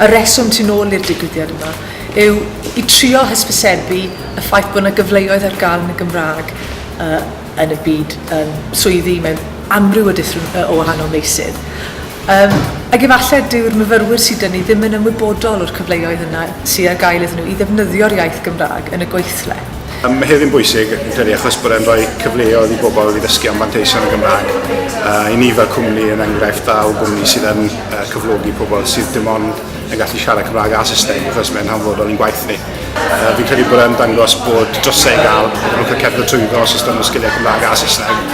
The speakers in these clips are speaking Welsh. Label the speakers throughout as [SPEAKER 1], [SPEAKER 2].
[SPEAKER 1] Y rheswm tu nôl i'r digwyddiad yma yw i trio hysbysebu y ffaith bod yna gyfleoedd ar gael yn y Gymraeg yy yn y byd yym swyddi mewn amryw o dithro'n- yy o wahanol meysydd. Yym ac efallai dyw'r myfyrwyr sy 'da ni ddim yn ymwybodol o'r cyfleoedd yna sy ar gael iddyn nhw i ddefnyddio'r iaith Gymraeg yn y gweithle. Mae mae hefyd yn
[SPEAKER 2] bwysig, fi'n credu, achos bod e'n rhoi cyfleoedd i bobl i ddysgu am fanteision y Gymraeg. Uh, I ni fel cwmni yn enghraifft dda o gwmni sydd yn uh, cyflogi pobl sydd dim ond yn gallu siarad Cymraeg a Saesneg, achos mae'n hanfodol i'n gwaith ni. Uh, fi'n credu bod e'n dangos bod drosau i gael, bod nhw'n cael cerdded trwyddo os ystod nhw'n sgiliau Cymraeg a Saesneg.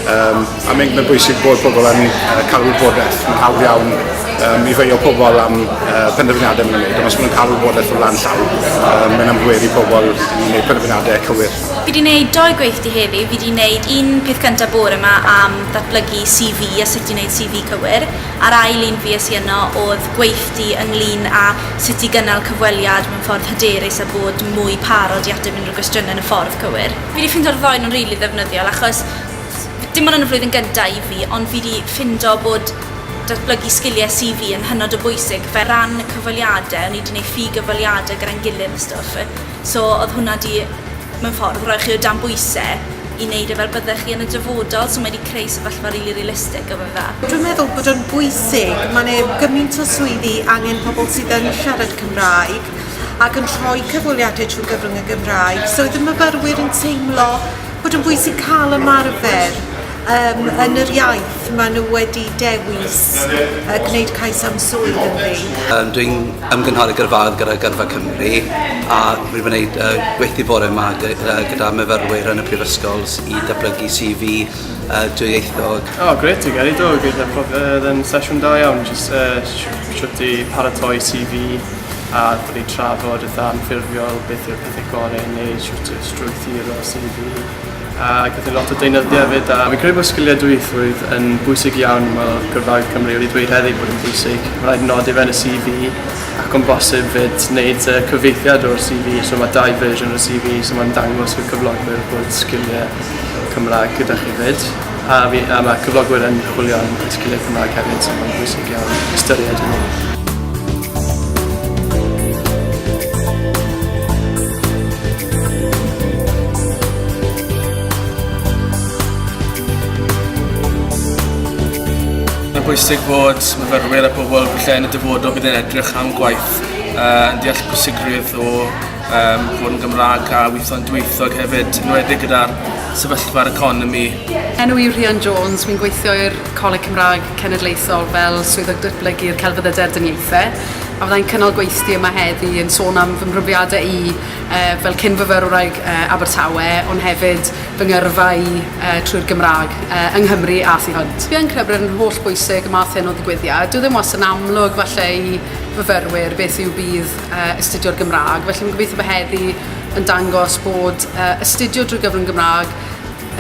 [SPEAKER 2] Um, I think mae'n bwysig bod pobl yn uh, cael wybodaeth. Mae'n hawdd iawn um, i feio pobl am uh, penderfyniadau maen nhw'n gwneud, ond os maen nhw'n cael wybodaeth o flaen llaw, um, mae'n amhweru pobl i wneud penderfyniadau cywir. Fi wedi gwneud doi
[SPEAKER 3] gweithdy heddiw. Fi wedi gwneud un peth cyntaf bore yma am datblygu CV a sut i wneud CV cywir. A'r ail un fi es i yno oedd gweithdy ynglyn â sut i gynnal cyfweliad mewn ffordd hyderus a bod mwy parod i ateb unrhyw gwestiynau yn y ffordd cywir. Fi wedi ffeindio'r ddoen yn rili really ddefnyddiol achos Dim ond yn y flwyddyn gyntaf i fi ond fi wedi ffindo bod datblygu sgiliau CV yn hynod o bwysig fel rhan y cyfweliadau, o'n i wedi gwneud ffi gyfweliadau gyda'n gilydd a stwff so oedd hwnna wedi mewn ffordd rhoi chi o dan bwysau i wneud e fel byddech chi yn y dyfodol so mae wedi creu sefyllfa rili realistig a pethau fel 'na. Dwi'n meddwl bod o'n
[SPEAKER 4] bwysig, mae 'na gymaint o swyddi angen pobl sydd yn siarad Cymraeg ac yn rhoi cyfweliadau trwy gyfrwng y Gymraeg so oedd y myfyrwyr yn teimlo Bod yn bwysig cael ymarfer yym yn yr iaith maen nhw wedi dewis yy gwneud cais am swydd ynddi. Yym dwi'n ymgynghori
[SPEAKER 5] gyrfaoedd gyda Gyrfa Cymru a rwy'n gwneud yy gweithdy bore yma gy- yy gyda myfyrwyr yn y Prifysgol s- i datblygu CV yy dwyieithog. O grêt ti Gary,
[SPEAKER 6] do gobeithio prof- yy oedd e'n sesiwn da iawn jyst yy sh- shwt i paratoi CV a bod ni'n trafod fatha anffurfiol beth yw'r Digonedd neu shwt i strwythuro CV a gyda lot o deunyddiau hefyd a fi'n credu bod sgiliau dwyieithrwydd yn bwysig iawn fel gyrfaoedd Cymru wedi dweud heddi bod yn bwysig. Mae'n rhaid nodi fe yn y CV ac o'n bosib fyd wneud uh, cyfeithiad o'r CV so mae dau fersiwn o'r CV so mae'n dangos i'r cyflogwyr bod sgiliau Cymraeg gyda chi fyd a, fi, a mae cyflogwyr yn chwilio am sgiliau Cymraeg hefyd so mae'n bwysig iawn ystyried hynny. bwysig bod myfyrwyr a pobl lle yn y dyfodol bydd yn edrych am gwaith uh, yn deall pwysigrwydd o um, fod yn Gymraeg a weithio'n dweithog hefyd, yn wedi gyda'r sefyllfa'r economi. Enw i Rhian
[SPEAKER 7] Jones, fi'n gweithio i'r Coleg Cymraeg Cenedlaethol fel Swyddog Datblygu'r Celfyddyd Derbyniaethe a fyddai'n cynnal gweithdy yma heddi yn sôn am fy mhrofiadau i e, fel cyn fyfyrwraig e, Abertawe ond hefyd fy ngyrfa i e, trwy'r Gymraeg e, yng Nghymru a thu hwnt. Fi yn credu yn holl bwysig y math hyn o ddigwyddiad. Dyw ddim wastad yn amlwg falle i fyfyrwyr beth yw bydd e, astudio'r Gymraeg felly fi'n gobeithio bod heddi yn dangos bod e, astudio drwy gyfrwng Gymraeg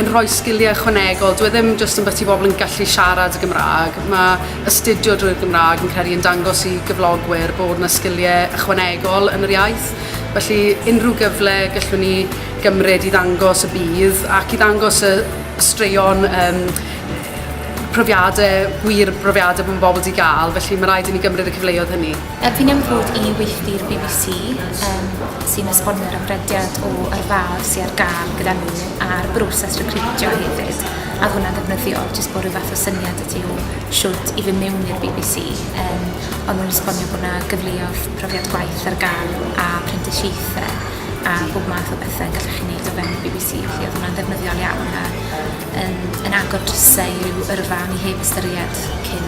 [SPEAKER 7] yn rhoi sgiliau ychwanegol. Dwi e ddim jyst yn byty bobl yn gallu siarad y Gymraeg. Mae astudio drwy'r Gymraeg yn credu yn dangos i gyflogwyr bod yna sgiliau ychwanegol yn yr iaith. Felly unrhyw gyfle gallwn ni gymryd i ddangos y bydd ac i ddangos y straeon um, profiadau, gwir brofiadau bod bobl wedi gael, felly mae rhaid i ni gymryd y cyfleoedd hynny. E, fi newydd fod
[SPEAKER 3] i weithlu'r BBC um, sy'n esbonio'r ymrediad o yrfaoedd sy'n ar gael gyda nhw a'r broses recriwtio hefyd a oedd hwnna'n ddefnyddiol jyst bod rhyw fath o syniad y ti o shwt i fynd mewn i'r BBC um, ond nhw'n esbonio bod yna gyfleodd profiad gwaith ar gael a prentisiaethau a bob math o bethau yn gallu chi wneud o fewn y BBC felly oedd hwnna'n ddefnyddiol iawn a yn, yn agor drysau i ryw yrfa ni heb ystyried cyn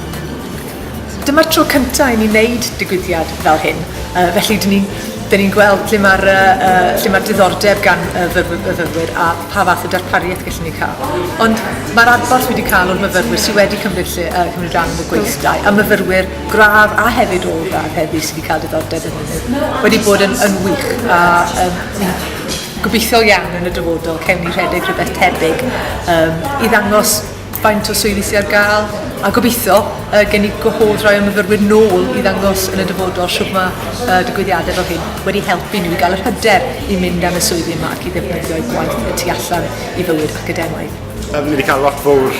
[SPEAKER 3] Dyma'r tro
[SPEAKER 1] cynta i ni wneud digwyddiad fel hyn, yy felly 'dyn ni'n 'dyn ni'n gweld lle ma'r yy yy lle ma'r diddordeb gan y fyf- y fyfyrwyr a pa fath o darpariaeth gellwn ni ca'l. Ond ma'r adborth wi 'di ca'l o'r myfyrwyr sy wedi cymryd lle yy cymryd ran yn y gweithdai, a myfyrwyr gradd a hefyd ôl-radd heddi sy 'di ca'l diddordeb yn hynny, wedi bod yn yn wych a yym ni'n gobeithiol iawn yn y dyfodol cewn ni rhedeg rhywbeth tebyg yym i ddangos faint o swyddi sy ar gael, a gobeithio yy gen i gwahodd rhai o myfyrwyr nôl i ddangos yn y dyfodol shwt mae yy digwyddiadau fel hyn wedi helpu nhw i gael yr hyder i mynd am y swyddi yma ac i ddefnyddio eu gwaith y tu allan i fywyd academaidd. Ni wedi cael lot
[SPEAKER 2] fawr,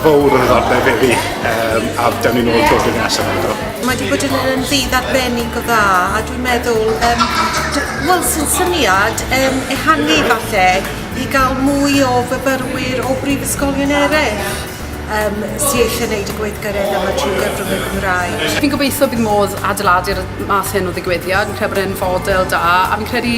[SPEAKER 2] fawr o ddiddordeb heddi um, a dyna ni'n ôl tro dyn nesaf eto. Mae wedi bod yn yn
[SPEAKER 4] ddydd arbennig o dda a dwi'n meddwl, um, wel, sy'n syniad um, ehangu falle i gael mwy o fyfyrwyr o brifysgolion eraill um, sy eisiau gwneud y gweithgaredd yma trwy gyfrwng y Gymraeg. Fi'n gobeithio bydd modd
[SPEAKER 7] adeiladu'r math hyn o ddigwyddiad, fi'n credu bod e'n fodel da, a fi'n credu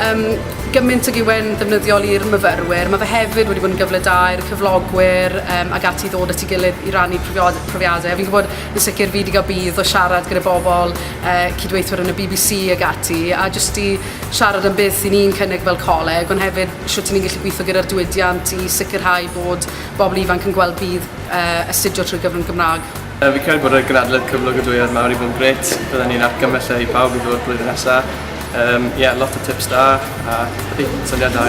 [SPEAKER 7] um, gymaint ag yw e'n ddefnyddiol i'r myfyrwyr, mae fe hefyd wedi bod yn gyfle da i'r cyflogwyr um, ac ati ddod at ei gilydd i rannu profiadau. A fi'n gwybod yn sicr fi wedi cael bydd o siarad gyda bobl uh, cydweithwyr yn y BBC ac ati, a jyst i siarad am beth 'y ni'n cynnig fel coleg ond hefyd shwt 'y ni'n gallu gweithio gyda'r diwydiant i sicrhau bod bobl ifanc yn gweld budd uh, astudio trwy gyfrwng Gymraeg. Uh, fi credu bod y
[SPEAKER 6] gynadledd cyflogadwyedd mawr i fod yn gret. Byddwn ni'n argymell lle i bawb i ddod blwyddyn nesaf. Um, yeah, lot o tips da a hey, syniad da.